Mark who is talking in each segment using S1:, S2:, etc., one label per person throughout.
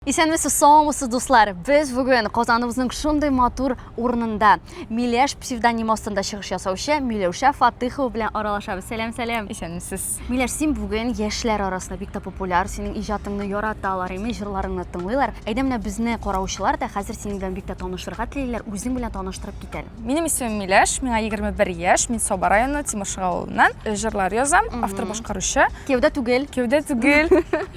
S1: Исәнмесез, саумысыз, дуслар! Без бүген Казаныбызның шундый матур урынында Миләш псевдонимы астында чыгыш ясаучы Миләүшә Фатыхова белән аралашабыз. Сәлам, сәлам! Исәнмесез! Миләш,
S2: син бүген
S1: яшьләр арасында бик тә популяр, синең иҗатыңны яраталар, имеш, җырларыңны тыңлыйлар. Әйдә менә безне караучылар да хәзер синең белән бик тә танышырга телиләр, үзең белән таныштырып кит әле. Минем исемем Миләш,
S2: миңа 21 яшь, мин Саба районы Тимошыга авылыннан. Э, җырлар язам, автор башкаручы. Кевдә түгел. Кевдә
S1: түгел.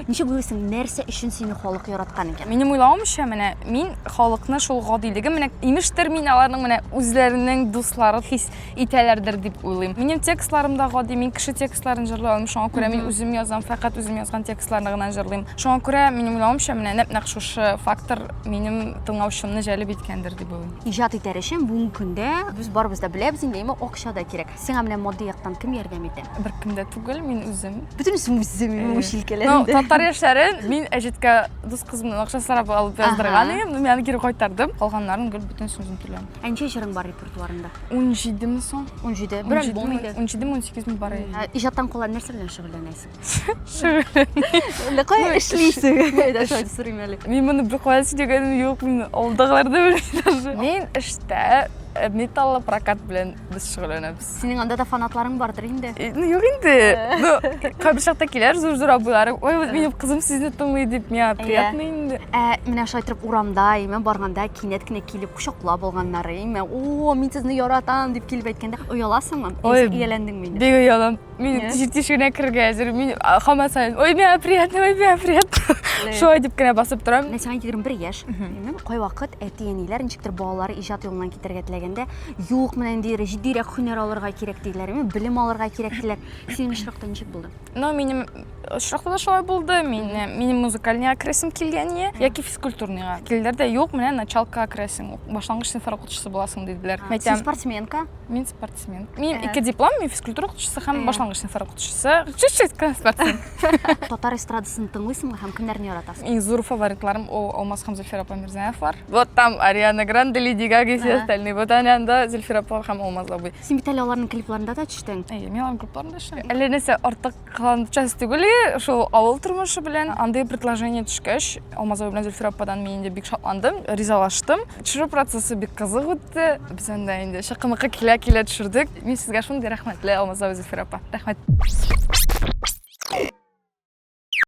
S2: Ничек уйлыйсың, нәрсә
S1: өчен сине халык яраткан икән? Минем уйлавымча, менә
S2: мин халыкны шул гадилеге, менә имештер мин аларның менә үзләренең дуслары хис итәләрдер дип уйлыйм. Минем текстларым да гади, мин кеше текстларын җырлый алам, шуңа күрә мин үзем язам, фәкать үзем язган текстларны гына җырлыйм. Шуңа күрә минем уйлавымча, менә нәп-нәкъ шушы фактор минем тыңлаучымны җәлеп иткәндер дип уйлыйм. Иҗат итәр өчен бүгенге
S1: көндә без барыбыз да беләбез инде, әмма акча да кирәк. Сиңа менә матди яктан кем ярдәм итә? Беркем дә түгел,
S2: мин үзем. Бөтенесе үзем, мин
S1: үч Ну, татар яшьләрен
S2: мин әҗәткә дус кызымның акча сорап алып яздырган идем, мин аны кире кайтардым. Калганнарын гел бөтенесен үзем түләм. Ә ничә җырың бар
S1: репертуарында? 17 ми соң?
S2: 17. Бер альбом
S1: инде. 17 ми, 18 ми бар.
S2: Иҗаттан кала нәрсә белән
S1: шөгыльләнәсең?
S2: Әллә кая эшлисең?
S1: Дәшәү сорыйм әле. Мин моны бер кая
S2: сөйләгәнем юк, мин алдагылар да белмим. Мин эштә э, металлы прокат белән без шөгыльләнәбез. Синең анда да фанатларың
S1: бардыр инде. Э, Ну, юк инде.
S2: Ну, кайбер чакта киләр зур-зур абыйларым. Ой, вот минем кызым сезне тыңлый дип, миңа приятно инде. Ә менә шулай торып
S1: урамда, име барганда кинәт кенә килеп кочаклап алганнары, име, о, мин сезне яратам дип килеп әйткәндә, ояласыңмы? Ой, Яисә ияләндеңме инде? Бик оялам. Мин Нет.
S2: җир тишегенә керергә әзер. Мин а, хамат сайын, ой, миңа приятно, ой, миңа приятно. Шулай дип кенә басып торам. Мен сиңа 21 яшь.
S1: Мен кай вакыт әти-әниләр ничектер балалары иҗат юлыннан китәргә теләгәндә, юк, менә инде җитдирәк һөнәр алырга кирәк диләр, мен белем алырга кирәк диләр. Синең очракта ничек булды? Но минем
S2: очракта да шулай булды. Мин э, минем музыкальныйга керәсем килгәне яки физкультурныйга. Килдер дә юк, менә началкага керәсең, башлангыч сыйнфлар укытучысы буласың диделәр. Син Мәйтәм, спортсменка.
S1: мин спорт.
S2: спортсмен мен екі диплом мен физкультура оқытушысы һәм башлангыч сыныфтар оқытушысы чуть-чуть спортсмен татар
S1: эстрадасын тыңлыйсыңмы һәм кемнәрне яратасың иң зур фаворитларым
S2: ол алмаз һәм зөлфәр апа мирзаевлар вот там ариана гранде леди гага и все остальные вот ана анда зөлфәр апа һәм алмаз абый син бит әле аларның клипларында
S1: да төштең әйе мин аларның клипларында
S2: төштем әллә нәрсә артык Кылан часть түгел, шул авыл тормышы белән андый предложение төшкәч, Алмазова белән Зөлфирә ападан мин инде бик шатландым, ризалаштым. Төшерү процессы бик кызык үтте. Без анда инде шыкымыкы килә-килә төшердек. Мин сезгә шундый рәхмәтле, Алмазова Зөлфирә апа. Рәхмәт.